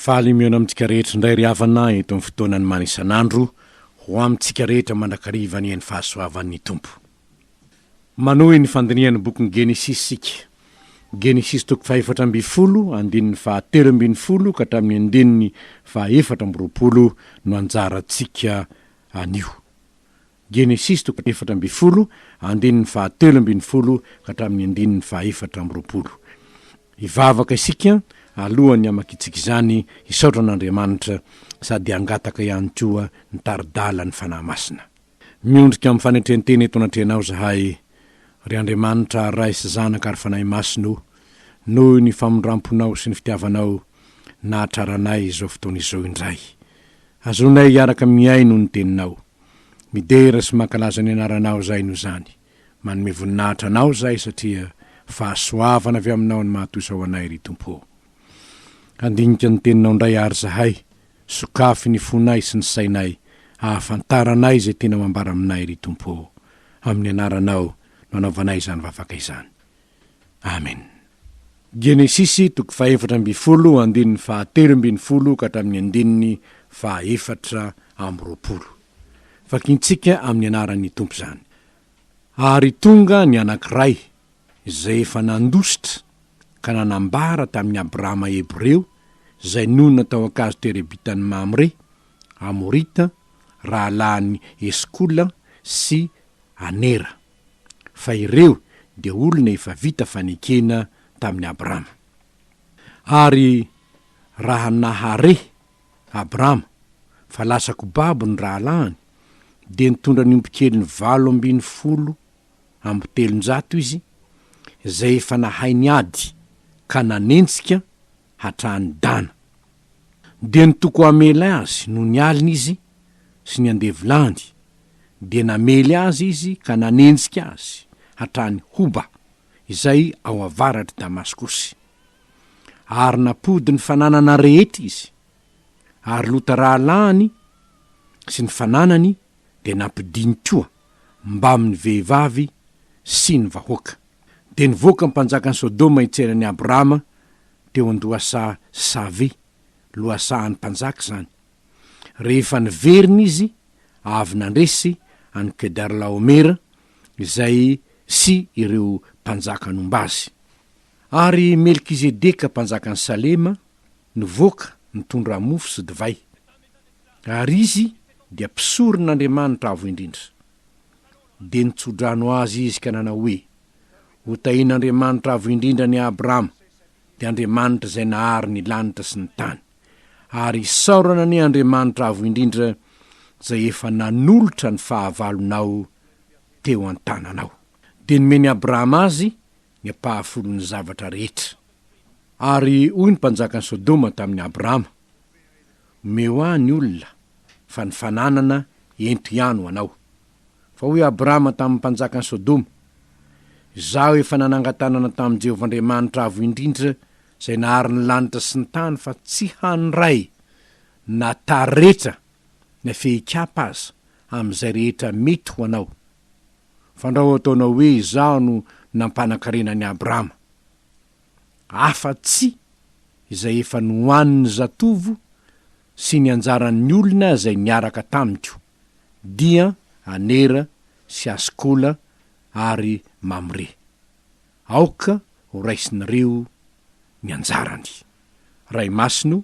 Faly mihaona amintsika rehetra indray ry havana eto amin'ny fotoanan'ny mani isan'andro ho amintsika rehetra mandrakariva anie ny fahasoavan'ny Tompo. Manohy ny fandinihan'ny bokin'ny Genesisy isika. Genesisy toko fahefatra ambin'ny folo andininy faha telo ambin'ny folo ka hatramin'ny andininy faha efatra amby roapolo no anjarantsika anio. Genesisy toko efatra ambin'ny folo, andininy fahatelo ambin'ny folo ka hatramin'ny andininy fahaefatra amby roapolo. Hivavaka isika alohan'ny hamakiantsika izany, hisaotra an'Andriamanitra sady hangataka ihany koa ny tari-dalan'ny Fanahy Masina. Miondrika amin'ny fanetren-tena eto anatrehanao izahay, ry Andriamanitra ary Ray sy Zanaka ary Fanahy Masina o, noho ny famindram-ponao sy ny fitiavanao nahatrara anay izao fotoana izao indray. Azonay hiaraka mihaino ny Teninao. Midera sy mankalaza ny anaranao zay no zany. Manome voninahitra anao zay satria fahasoavana avy aminao ny mahatosa ho anay ry Tompo ô. Handinika ny teninao ndray ary zahay, sokafy ny fonay sy ny sainay ahafantaranay izay tianao ambara aminay ry Tompo ô. Amin'ny anaranao no anaovanay izany vavaka izany. Amen. Genesisy toko fahefatra ambin'ny folo andininy faha telo ambin'ny folo ka hatramin'ny andininy faha efatra amby roapolo. Vakintsika amin'ny anaran'ny Tompo izany. Ary tonga ny anankiray izay efa nandositra ka nanambara tamin'i Abrahama Hebreo izay nonina tao an-kazo terebitan'i Mamre, Amorita, rahalahin'i Eskola sy Anera. fa ireo dia olona efa vita fanekena tamin'i Abrama. Ary raha nahare Abrama fa lasa kobabo ny rahalahiny, dia nitondra ny ombikeliny valo ambin'ny folo amby telonjato izy, izay efa nahay ny ady ka nanenjika hatrany Dana. Dia nitoko hamely azy noho ny alina izy sy ny andevolany, dia namely azy izy ka nanenjika azy hatrany Hoba, izay ao avaratr'i Damaskosy. Ary nampody ny fananana rehetra izy, ary Lota rahalahiny sy ny fananany dia nampidiny koa mbamin'ny vehivavy sy ny vahoaka. Dia nivoaka ny mpanjakan'i Sodoma hitsena an'i Abrama teo an-dohasaha Save, lohasahan'ny mpanjaka izany. Rehefa niverina izy, avy nandresy an'i Kedar-laomera, izay sy ireo mpanjaka nomba azy. Ary Melkizedeka mpanjakan'i Salema nivoaka nitondra mofo sy divay. Ary izy dia mpisoron'Andriamanitra Avo Indrindra. Dia nitso-drano azy izy ka nanao hoe, Hotahian'Andriamanitra Avo Indrindra an'i Abrahama, dia Andriamanitra izay nahary ny lanitra sy ny tany. Ary isaorana anie Andriamanitra Avo Indrindra izay efa nanolotra ny fahavalonao teo an-tananao. Dia nomen'i Abrahama azy ny ampahafolon'ny zavatra rehetra. Ary hoy ny mpanjakan'i Sodoma tamin'i Abrama, Omeo ahy ny olona, fa ny fananana ento ihany ho anao. Fa hoy Abrama tamin'ny mpanjakan'i Sodoma, Izaho efa nanangan-tanana tamin'i Jehovah Andriamanitra Avo Indrindra izay nahary ny lanitra sy ny tany fa tsy handray na taretra na fehin-kiampa aza amin'izay rehetra mety ho anao. Fandrao ataonao hoe izaho no nampanan-karena an'i Abrama. Afa-tsy izay efa nohanin'ny zatovo sy ny anjaran'ny olona izay niaraka tamiko, dia Anera sy Askola ary Mamre. Aoka horaisinareo ny anjarany. Ray Masino,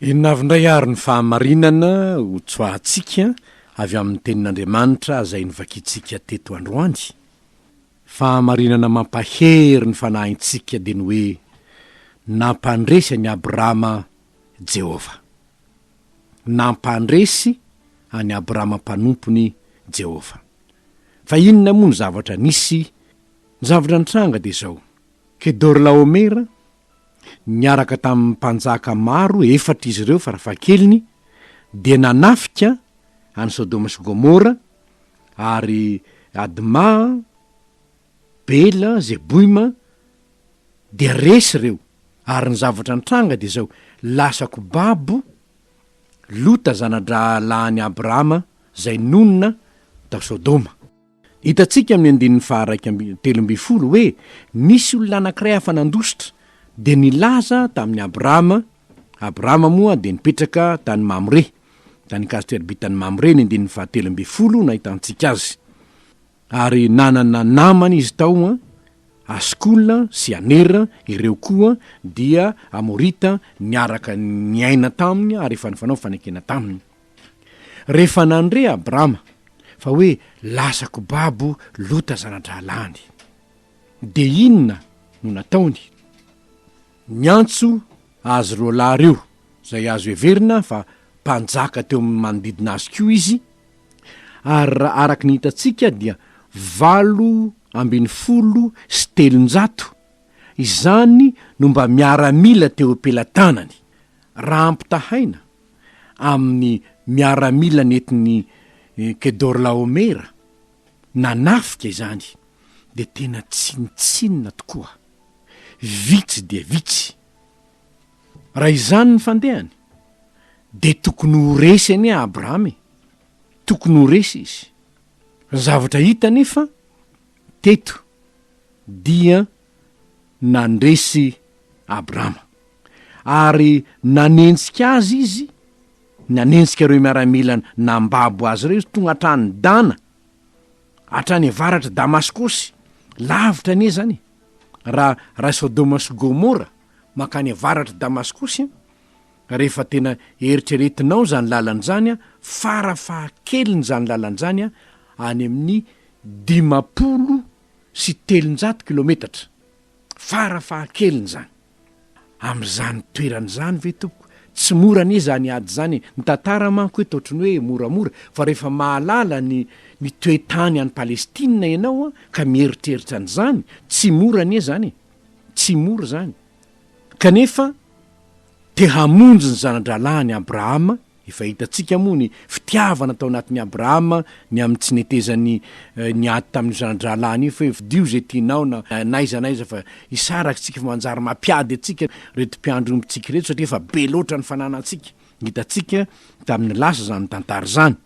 Inona avy indray àry ny fahamarinana hotsoahantsika avy amin'ny Tenin'Andriamanitra izay novakintsika teto androany? Fahamarinana mampahery ny fanahintsika dia ny hoe nampandresy an'i Abrama Jehovah. Nampandresy an'i Abrama mpanompony Jehovah. Fa inona moa ny zavatra nisy? Ny zavatra nitranga dia izao, Kedorlaomera, niaraka tamin'ny mpanjaka maro, efatra izy ireo farafahakeliny, dia nanafika an'i Sodoma sy Gomora, ary Admà, Bela, Zeboima, dia resy ireo, ary ny zavatra nitranga dia izao, lasa kobabo Lota zana-drahalahin'i Abrahama izay nonina tao Sodoma. Hitantsika amin'ny andininy faha iraika amby telo ambin'ny folo hoe nisy olona anankiray hafa nandositra dia nilaza tamin'i Abrahama, Abrahama moa dia nipetraka tany Mamre, tany Kazter-bi tany Mamre, ny andininy faha telo ambin'ny folo no ahitantsika azy. Ary nanana namana izy tao an, Askola sy Anera, ireo koa dia Amorita niaraka niaina taminy ary efa nifanao fanekena taminy. Rehefa nandre Abrama fa hoe lasako babo Lota zana-drahalahiny, dia inona no nataony? Niantso azy roa lahy ireo, izay azo heverina fa mpanjaka teo amin'ny manodidina azy koa izy, ary raha araka ny hitantsika dia valo ambin'ny folo sy telonjato izany no mba miaramila teo am-pelatanany, raha ampitahaina, amin'ny miaramila nentin'i Kedorlaomera nanafika izany dia tena tsinontsinona tokoa, vitsy dia vitsy. Raha izany ny fandehany dia tokony ho resy anie Abrahama e! Tokony ho resy izy. Ny zavatra hita anefa teto dia nandresy Abrama. Ary nanenjika azy izy, nanenjika ireo miaramila nambabo azy ireo izy, tonga hatrany Dana, hatrany avaratr'i Damaskosy, lavitra anie izany e! Raha, raha i Sodoma sy Gomora, mankany avaratr'i Damaskosy an, rehefa tena eritreretinao izany lalana izany an, fara fahakeliny izany lalana izany an, any amin'ny dimampolo sy telonjato kilometatra fara fahakeliny izany. Amin'izany toerana izany ve tompoko? Tsy mora anie izany ady izany e! Ny tantara manko eto ohatry ny hoe moramora fa rehefa mahalala ny ny toe-tany any Palestina ianao ka mieritreritra an'izany, tsy mora anie izany e! Tsy mora izany. Kanefa te hamonjy ny zana-drahalahiny Abrahama Efa hitantsika moa ny fitiavana tao anatin'i Abrahama ny amin'ny tsy netezany niady tamin'io zana-drahalahiny io fa hoe fidio izay tianao na n'aiza n'aiza fa i Sara akintsika fa manjary mampiady antsika ireto mpiandry ombintsika ireto satria efa be loatra ny fananantsika. Hitantsika tamin'ny lasa izany tantara izany.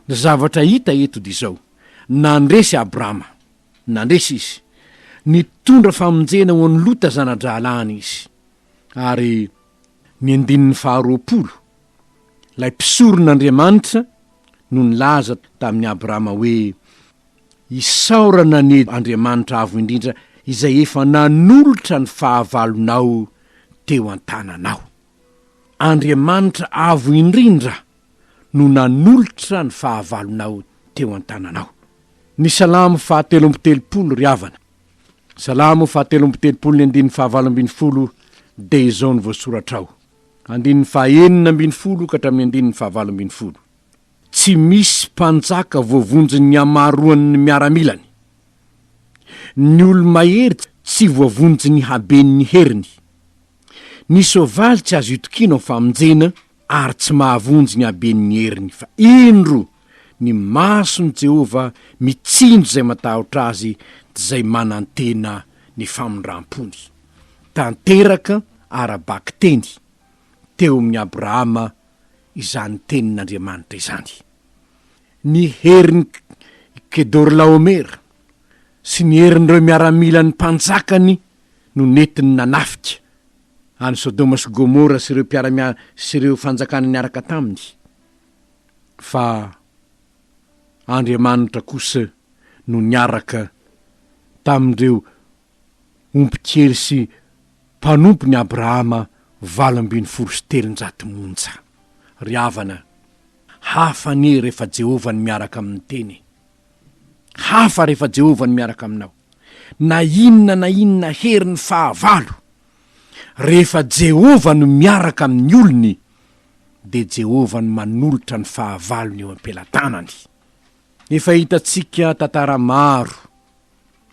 Ny zavatra hita eto dia izao, nandresy Abrahama, nandresy izy, nitondra famonjena ho an'i Lota zana-drahalahiny izy. ary ny andininy faharoapolo, ilay mpisoron'Andriamanitra no nilaza tamin'i Abrahama hoe, Isaorana anie Andriamanitra Avo Indrindra izay efa nanolotra ny fahavalonao teo an-tananao. Andriamanitra Avo Indrindra no nanolotra ny fahavalonao teo an-tananao. Ny Salamo fahatelo amby telopolo, ry havana. Salamo fahatelo amby telopolo ny andininy fahavalo ambin'ny folo dia izao no voasoratra ao, andininy fahaenina ambin'ny folo ka hatramin'ny andininy fahavalo ambin'ny folo, Tsy misy mpanjaka voavonjin'ny hamaroan'ny miaramilany, ny olo-mahery tsy voavonjin'ny haben'ny heriny. Ny soavaly tsy azo itokiana ho famonjena ary tsy mahavonjy ny haben'ny heriny, fa indro! Ny mason'i Jehovah mitsinjo izay matahotra azy dia izay manantena ny famindram-pony. Tanteraka ara-bakiteny teo amin'i Abrahama izany tenin'Andriamanitra izany. Ny herin'i Kedorlaomer sy ny herin'ireo miaramilan'ny mpanjakany no nentiny nanafika an'i Sodoma sy Gomora sy ireo mpiara-miasa sy ireo fanjakana niaraka taminy. fa Andriamanitra kosa no niaraka tamin'ireo ombin-kery sy mpanompon'i Abrahama valo ambin'ny folo sy telonjato monja. Ry havana, hafa anie rehefa Jehovah no miaraka amin'ny Teny e! Hafa rehefa Jehovah no miaraka aminao. Na inona na inona herin'ny fahavalo, rehefa Jehovah no miaraka amin'ny olony, dia Jehovah no manolotra ny fahavalony eo am-pelatanany. Efa hitantsika tantara maro,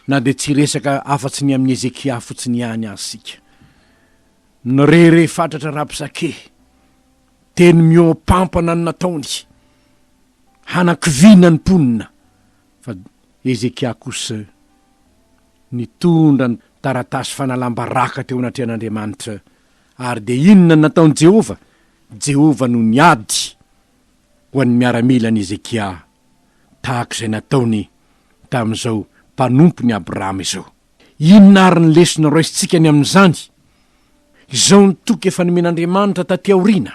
na dia tsy resaka afa-tsy ny amin'i Hezekia fotsiny ihany aza isika. Nirehareha fatratra Rabsake, teny mihoa-pampana ny nataony, hanakiviana ny mponina, fa Hezekia kosa nitondra ny taratasy fanalam-baraka teo anatrehan'Andriamanitra Ary dia inona no nataon'i Jehovah? Jehovah no niady ho an'ny miaramilan'i Hezekia, tahaka izay nataony tamin'izao mpanompon'i Abrahama izao. Inona àry ny lesona raisintsika ny amin'izany? Izao ny toky efa nomen'Andriamanitra tatỳ aoriana,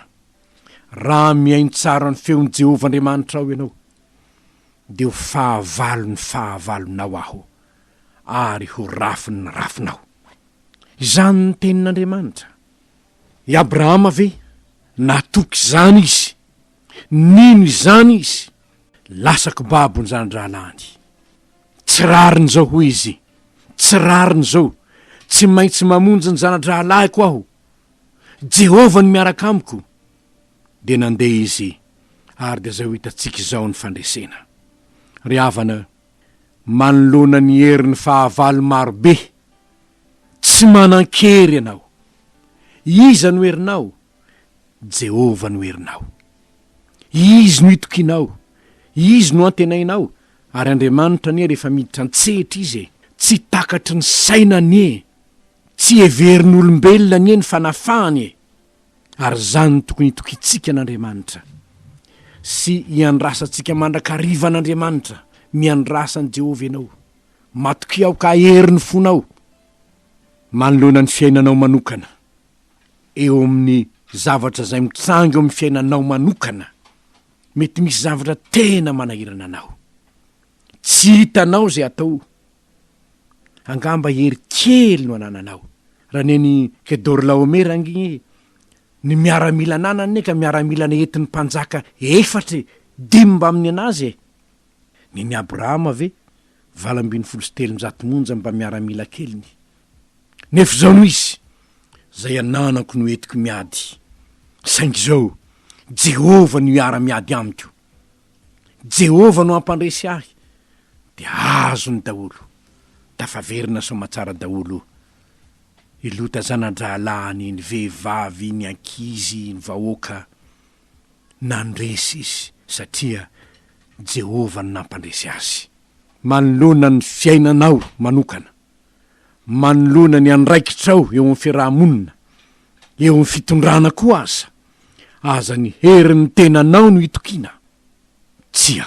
Raha mihaino tsara ny feon'i Jehovah Andriamanitrao ianao, dia ho fahavalon'ny fahavalonao aho, ary ho rafin'ny rafinao. Izany ny tenin'Andriamanitra. I Abrahama ve natoky izany izy? Nino izany izy? Lasa kibabon'izany rahalahiny. Tsy rariny izao, hoy izy, tsy rariny izao. Tsy maintsy mamonjy ny zana-drahalahiko aho. Jehovah no miaraka amiko. Dia nandeha izy, ary dia izay ho hitantsika izao ny fandresena. Ry havana, manoloana ny herin'ny fahavalo maro be. Tsy manan-kery ianao. Iza no herinao? Jehovah no herinao. Izy no itokianao, izy no antenainao, ary Andriamanitra anie rehefa miditra an-tsehatra izy e! Tsy takatry ny saina anie, tsy heverin'olombelona anie ny fanafahany e! Ary izany no tokony hitokiantsika an'Andriamanitra sy hiandrasantsika mandrakariva an'Andriamanitra, Miandrasa an'i Jehovah ianao. Matokia aho ka ahery ny fonao manoloana ny fiainanao manokana, eo amin'ny zavatra izay mitranga eo amin'ny fiainanao manokana. Mety misy zavatra tena manahirana anao. Tsy hitanao izay atao Angamba hery kely no anananao. Raneny Kedorlaomera ange ny miaramila ananany e, ka miaramila nentin'ny mpanjaka efatra e, dimy mba amin'ny an'azy e! Nen'i Abrahama ve valo ambin'ny folo sy telonjato monja mba miaramila keliny. Nefa izao no izy, izay ananako no entiko miady, saingy izao, Jehovah no hiara-miady amiko. Jehovah no hampandresy ahy, dia azony daholo. Tafaverina soamatsara daholo i Lota zana-drahalahiny, ny vehivavy, ny ankizy, ny vahoaka. Nandresy izy, satria Jehovah no nampandresy azy. Manoloana ny fiainanao manokana, manoloana ny andraikitrao eo amin'ny fiaraha-monina, eo amin'ny fitondrana koa aza, Aza ny herin'ny tenanao no itokiana. Tsia.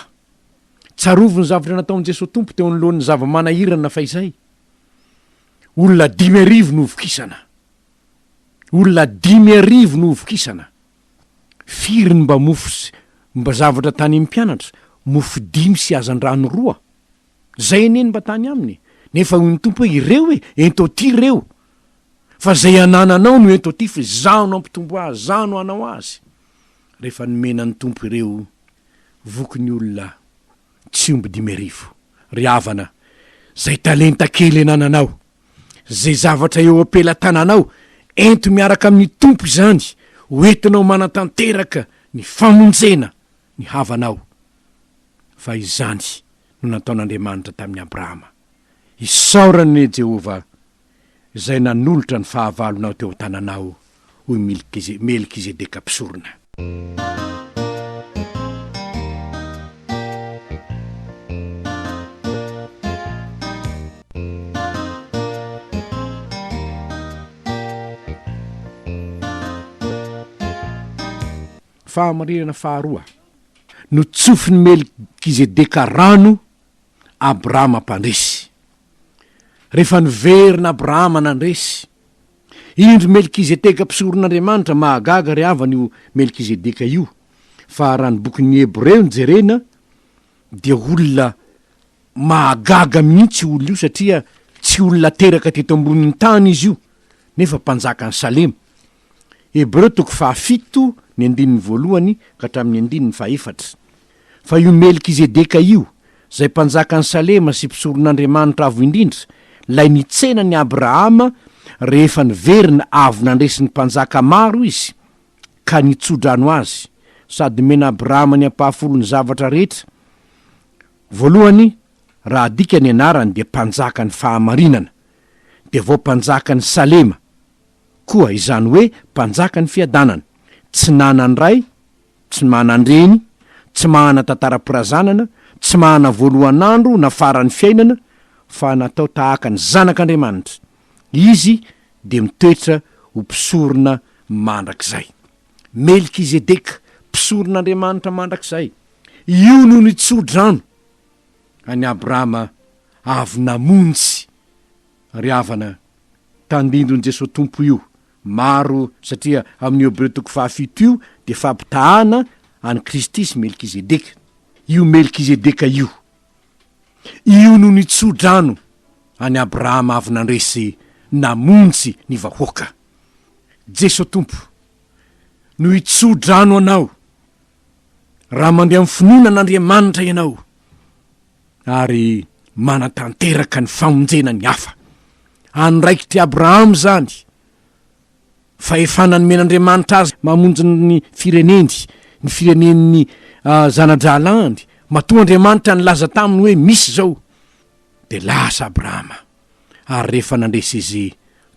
Tsarovy ny zavatra nataon'i Jesoa Tompo teo anoloan'ny zava-manahirana fahizay. Olona dimy arivo novokisana. Olona dimy arivo novokisana. Firy ny mba mofo sy mba zavatra tany amin'ny mpianatra? Mofo dimy sy hazandrano roa. Zay anie ny mba tany aminy nefa hoy ny Tompo hoe ireo e, ento aty ireo fa zay anananao no ento aty fa izaho no hampitombo azy, izaho no hanao azy. Rehefa nomena ny Tompo ireo voky ny olona tsy omby dimy arivo. Ry havana, zay talenta kely anananao, zay zavatra eo am-pelatananao, ento miaraka amin'ny Tompo izany ho entinao manatanteraka ny famonjena ny havanao, fa izany no nataon'Andriamanitra tamin'i Abrahama. Isaorana anie Jehovah, izay nanolotra ny fahavalonao teo an-tananao, hoy Milkize, Melkizedeka mpisorona. Fahamarinana faharoa, Notsofin'i Melkizedeka rano Abrahama mpandresy. Rehefa niverina Abrahama nandresy, indro Melkizedeka mpisoron'Andriamanitra, mahagaga ry havana io Melkizedeka io, fa raha ny bokin'ny Hebreo no jerena dia olona mahagaga mihitsy io olona io satria tsy olona teraka teto ambonin'ny tany izy io nefa mpanjakan'i Salema. Hebreo toko fahafito ny andininy voalohany ka hatramin'ny andininy fahefatra. Fa io Melkizedeka io, izay mpanjakan'i Salema sy mpisoron'Andriamanitra Avo Indrindra, ilay nitsena an'i Abrahama rehefa niverina avy nandresy ny mpanjaka maro izy ka nitso-drano azy, sady nomena Abrahama ny ampahafolon'ny zavatra rehetra, voalohany, raha adika ny anarany dia mpanjakan'ny fahamarinana, dia vao mpanjakan'i Salema. Koa izany hoe mpanjaka ny fiadanana, tsy nanan ray, tsy manan dreny, tsy mahana tantara mpirazanana, tsy mahana voalohan andro na faran'ny fiainana, fa natao tahaka ny zanak Andriamanitra, izy dia mitoetra ho mpisorona mandrakizay. Melkizedeka, mpisoron Andriamanitra mandrakizay. Io no nitso drano an'i Abrahama avy namonjy Ry havana, tandindon'i Jesoa Tompo io, maro satria amin'ny Hebreo toko fahafito io dia fampitahana an'i Kristy sy Melkizedeka, io Melkizedeka io, io no nitso-drano an'i Abrahama avy nandresy namonjy ny vahoaka. Jesoa Tompo no hitso-drano anao raha mandeha amin'ny finoana an'Andriamanitra ianao. ary manatanteraka ny famonjena ny hafa. Andraikitr'i Abrahama izany. Fahefana nomen'Andriamanitra azy mamonjy ny fireneny, ny firenen'ny ah, zana-drahalahiny. Matoa Andriamanitra nilaza taminy hoe misy izao, dia lasa Abrahama. Ary rehefa nandresy izy,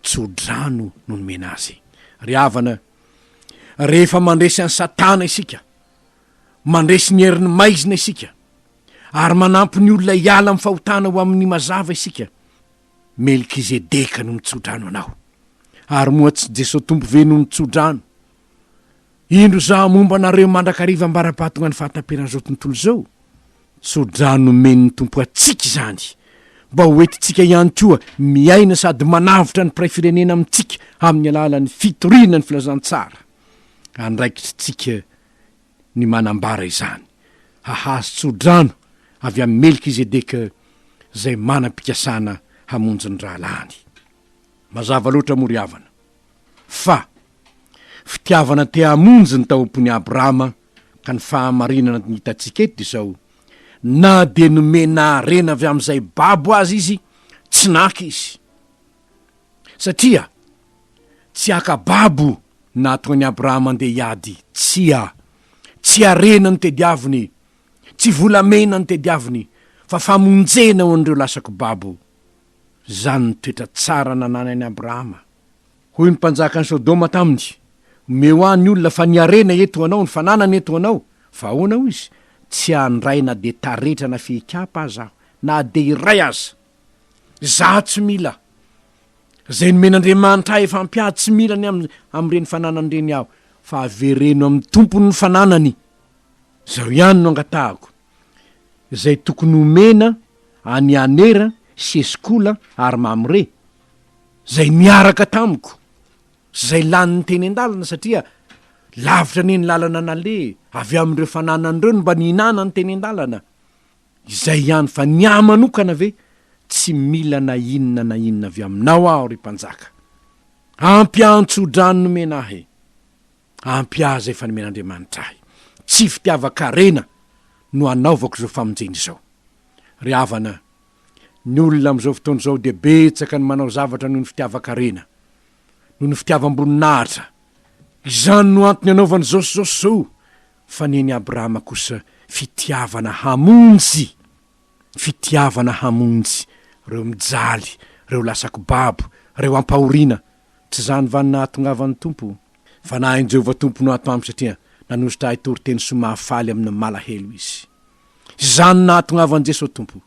tsodrano no nomena azy. Ry havana, rehefa mandresy an'i Satana isika, Mandresy ny herin'ny maizina isika, ary manampy ny olona hiala amin'ny fahotana ho amin'ny mazava isika. Melkizedeka no nitsodrano anao. Ary moa tsy Jesoa Tompo ve no nitsodrano? Indro izaho momba anareo mandrakariva ambara-pahatongan'ny fahataperan'izao tontolo izao. Tsodrano nomen'ny Tompo antsika izany, mba ho entintsika ihany koa miaina sady manavotra ny mpiray firenena amintsika amin'ny alalan'ny fitoriana ny filazantsara andraikitritsika ny manambara izany, hahazo tso-drano avy amin'i Melkizedeka izay manam-pikasana hamonjy ny rahalahiny. Mazava loatra moa ry havana, fa fitiavana te hamonjy ny taoam-pon'i Abrahama ka ny fahamarinana no hitantsika eto izao, na dia nomena harena avy amin'izay babo aza izy, tsy naka izy. Satria tsy haka babo nahatonga an'i Abrahama handeha hiady, tsia. Tsy harena no tediaviny, tsy volamena no tediaviny, fa famonjena ho an'ireo lasaky babo. Izany no toetra tsara nananan'i Abrahama. Hoy ny mpanjakan'i Sodoma taminy, Omeo ahy ny olona, fa ny harena eto ho anao, ny fananana eto ho anao. Fa ahoana, hoy izy, tsy handray na dia taretra na fihikapa aza aho, na dia iray aza! Izaho tsy mila. Izay nomen'Andriamanitra ahy efa ampy ahy, tsy mila ny am- amin'ireny fananany ireny aho, fa avereno amin'ny Tompony ny fananany. Izao ihany no angatahako, izay tokony homena an'i Anera sy Eskola ary Mamre, izay niaraka tamiko sy izay lanin'ny teny an-dalana, satria lavitra anie ny lalana naleha, avy amin'ireo fananany ireo no mba nihinanany teny an-dalana. Izay ihany fa ny ahy manokana ve tsy mila na inona na inona avy aminao aho ry mpanjaka. Ampy aho tso-drano nomena ahy. Ampy ahy izay efa nomen'Andriamanitra ahy. Tsy fitiavan-karena no anaovako izao famonjena izao. Ry havana, ny olona amin'izao fotoana izao dia betsaka ny manao zavatra noho ny fitiavan-karena, noho ny fitiavam-boninahitra. Izany no antony anaovany izao sy izao sy izao. Fa nen'i Abrahama kosa fitiavana hamonjy, fitiavana hamonjy, reo mijaly, reo lasa kibabo, reo ampahoriana. Tsy zany va no nahatongavan'ny Tompo? Fanahin'i Jehovah Tompo no ato amiko satria nanositra ahy toriteny sy mahafaly amin'ny malahelo Izy. Izany nahatongavan'i Jesoa Tompo,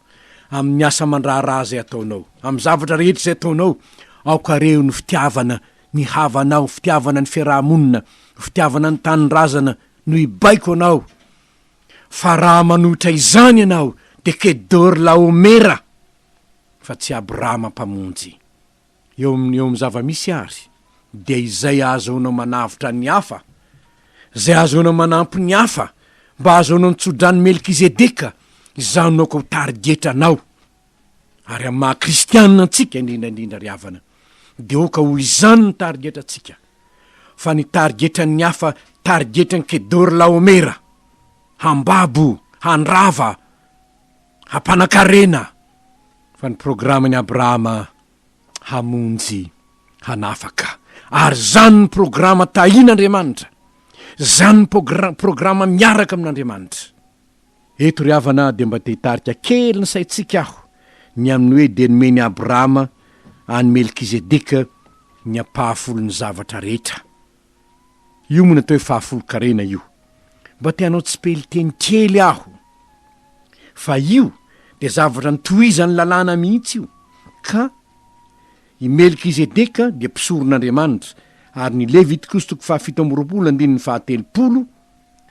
amin'ny asa aman-draharaha izay ataonao, amin'ny zavatra rehetra izay ataonao, aoka reho ny fitiavana ny havanao, fitiavana ny fiaraha-monina, fitiavana ny tanindrazana no hibaiko anao, fa raha manohitra izany ianao dia Kedôrlaômera fa tsy Abrama Mpamonjy. Eo amin'ny eo amin'ny zava-misy àry, dia izay ahazoana manavotra ny hafa, izay ahazoana manampy ny hafa mba hahazoana ny tso-dran'i Melkizedeka, izaho no aoka ho tarigetra anao. Ary amin'ny maha-kristianina antsika, indrindra indrindra, ry havana, dia aoka ho izany ny tarigetrantsika, fa ny tarigetran'ny hafa tarigetran'i Kedôrlaômera, hambabo, handrava, hampanan-karena fa ny programan'i Abrahama hamonjy hanafaka ary zany ny programa tahin'Andriamanitra zany ny progr- programa miaraka amin'Andriamanitra eto ry havana dia mba te hitarika kely ny saintsika aho ny amin'ny hoe dia nomen'i Abrahama any Melkizedeka ny ampahafolon'ny zavatra rehetra Io moa ny atao hoe fahafolon-karena io. Mba te hanao tsipelin-teny kely aho. Fa io dia zavatra nitohizan'ny lalàna mihitsy io. Ka i Melkizedeka dia mpisoron'Andriamanitra, ary ny Levitikosytoko fahafito amby roapolo andininy fahatelopolo,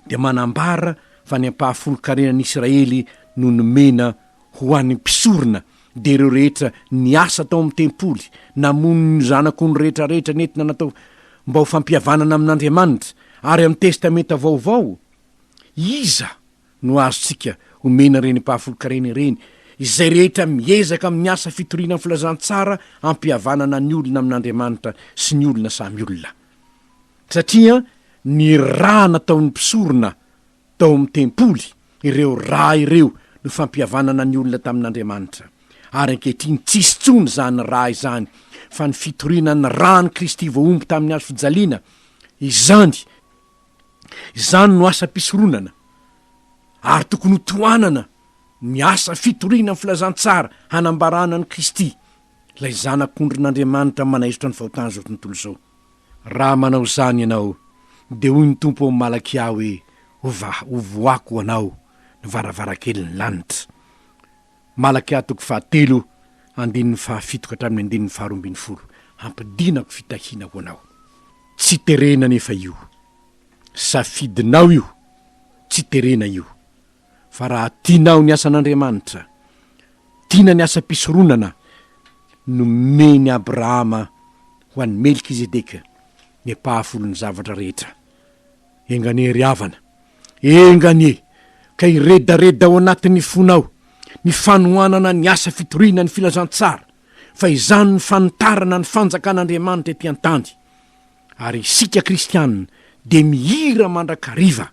dia manambara fa ny ampahafolon-karenan'i Israely no nomena ho an'ny mpisorona, dia ireo rehetra niasa tao amin'ny tempoly, namono ny zanak'ondry rehetrarehetra nentina natao mba ho fampihavanana amin'Andriamanitra, ary amin'ny Testamenta Vaovao, iza no azontsika omena ireny ampahafolon-karena ireny? Izay rehetra miezaka amin'ny asa fitoriana ny filazantsara hampihavanana ny olona amin'Andriamanitra sy ny olona samy olona. satria ny ra nataon'ny mpisorona tao amin'ny tempoly, ireo ra ireo no fampihavanana ny olona tamin'Andriamanitra, ary ankehitriny tsy hisy intsony izany ra izany, fa ny fitoriana ny ran'i Kristy voahombo tamin'ny hazo fijaliana, izany, izany no asam-pisoronana, ary tokony ho tohanana ny asa fitoriana ny filazantsara hanambarana an'i Kristy, ilay Zanak'ondrin'Andriamanitra manaisotra ny fahotan'izao tontolo izao. Raha manao izany ianao, dia hoy ny Tompo ao amin'ny Malakia hoe, Hovaha, hovohako ho anao ny varavarankelin'ny lanitra. Malakia toko fahatelo, andininy fahafito ka hatramin'ny andininy faharoa ambin'ny folo. Hampidinako fitahiana ho anao. Tsy terena anefa io. Safidinao io. Tsy terena io. fa raha tianao ny asan'Andriamanitra, tiana ny asam-pisoronana nomen'i Abrahama ho an'i Melkizedeka, ny mpahafolon'ny zavatra rehetra. Enga anie ry havana, enga anie ka hiredareda ao anatin'ny fonao ny fanohanana ny asa fitoriana ny filazantsara, fa izany ny fanitarana ny fanjakan'Andriamanitra ety an-tany. Ary isika kristiana dia mihira mandrakariva.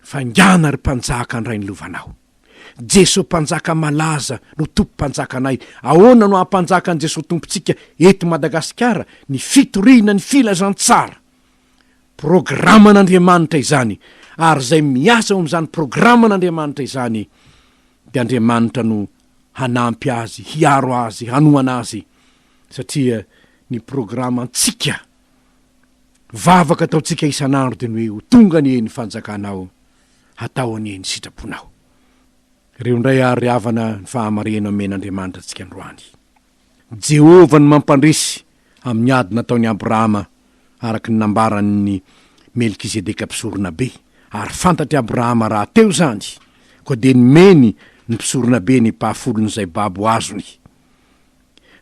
Faingàna ry Mpanjaka andray ny lovanao. Jeso Mpanjaka malaza no Tompo Mpanjakanay. Ahoana no hampanjakan'i Jeso Tompontsika eto Madagasikara ny fitoriana ny filazantsara? Programan'Andriamanitra izany ary izay miasa ao amin'izany programan'Andriamanitra izany dia Andriamanitra no hanampy azy, hiaro azy, hanohana azy satria ny programantsika vavaka ataontsika isan'andro dia ny hoe ho tonga anie ny fanjakanao, hatao anie ny sitraponao. Ireo indray àry ry havana ny fahamarinana omen'Andriamanitra antsika androany. Jehovah no mampandresy amin'ny ady nataon'i Abrahama araka ny nambaran'i Melkizedeka Mpisoronabe, ary fantatr'i Abrahama rahateo izany, koa dia nomeny ny Mpisoronabe ny epafolon'izay babo azony.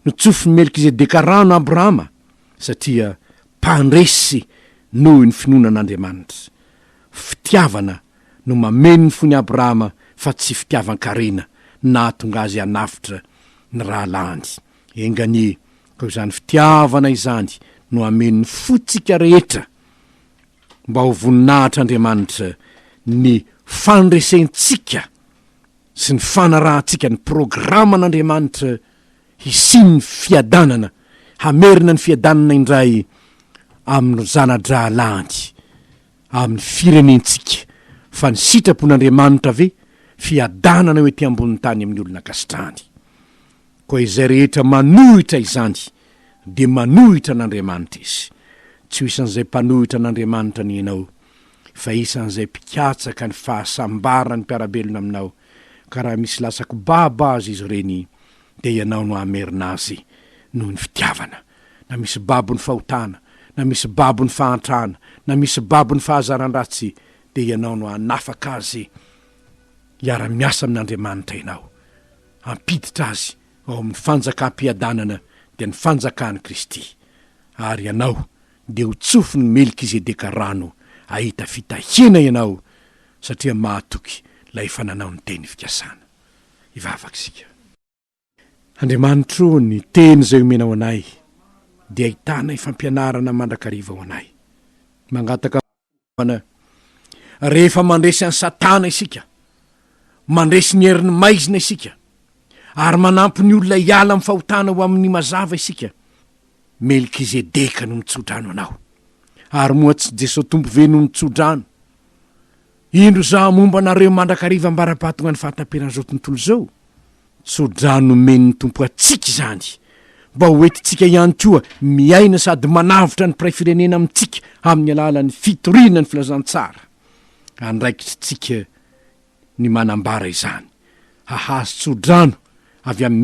Notsofin'i Melkizedeka rano Abrahama satria mpandresy noho ny finoana an'Andriamanitra. Fitiavana no mameno ny fon'i Abrahama fa tsy fitiavan-karena no nahatonga azy hanavotra ny rahalahiny. Enga anie koa izany fitiavana izany no hameno ny fontsika rehetra mba ho voninahitr'Andriamanitra ny fandresentsika sy ny fanarahantsika ny programan'Andriamanitra hisian'ny fiadanana, hamerina ny fiadanana indray amin'ireo zana-drahalahiny amin'ny firenentsika, fa ny sitrapon'Andriamanitra ve fiadanana eo ety ambonin'ny tany amin'ny olona ankasitrahany? Koa izay rehetra manohitra izany dia manohitra an'Andriamanitra izy. Tsy ho isan'izay mpanohitra an'Andriamanitra anie ianao. fa isan'izay mpikatsaka ny fahasambaran'ny mpiara-belona aminao, ka raha misy latsako babo azy izy ireny, dia ianao no hamerina azy noho ny fitiavana, na misy babon'ny fahotana, na misy babon'ny fahantrana, na misy babon'ny fahazaran-dratsy, dia ianao no hanafaka azy, hiara-miasa amin'Andriamanitra ianao, hampiditra azy ao amin'ny fanjakam-piadanana, dia ny fanjakan'i Kristy, ary ianao dia ho tsofin'i Melkizedeka rano hahita fitahiana ianao satria mahatoky ilay efa nanao ny teny fikasana. Hivavaka isika. Andriamanitro o, ny teny izay omenao anay dia ahitana fampianarana mandrakariva ho anay. Mangataka. An! Rehefa mandresy an'i Satana isika, mandresy ny herin'ny maizina isika, ary manampy ny olona hiala amin'ny fahotana ho amin'ny mazava isika, Melkizedeka no nitsodrano anao. Ary moa tsy Jesoa Tompo ve no nitsodrano? Indro izaho momba anareo mandrakariva ambara-batongan'ny fahataperan'izao tontolo izao. Tso-drano nomen'ny Tompo antsika izany, mba ho entintsika ihany koa miaina sady manavotra ny mpiray firenena amintsika amin'ny alalan'ny fitoriana ny filazantsara. Andraikitritsika ny manambara izany, hahazo tso-drano avy amin'ny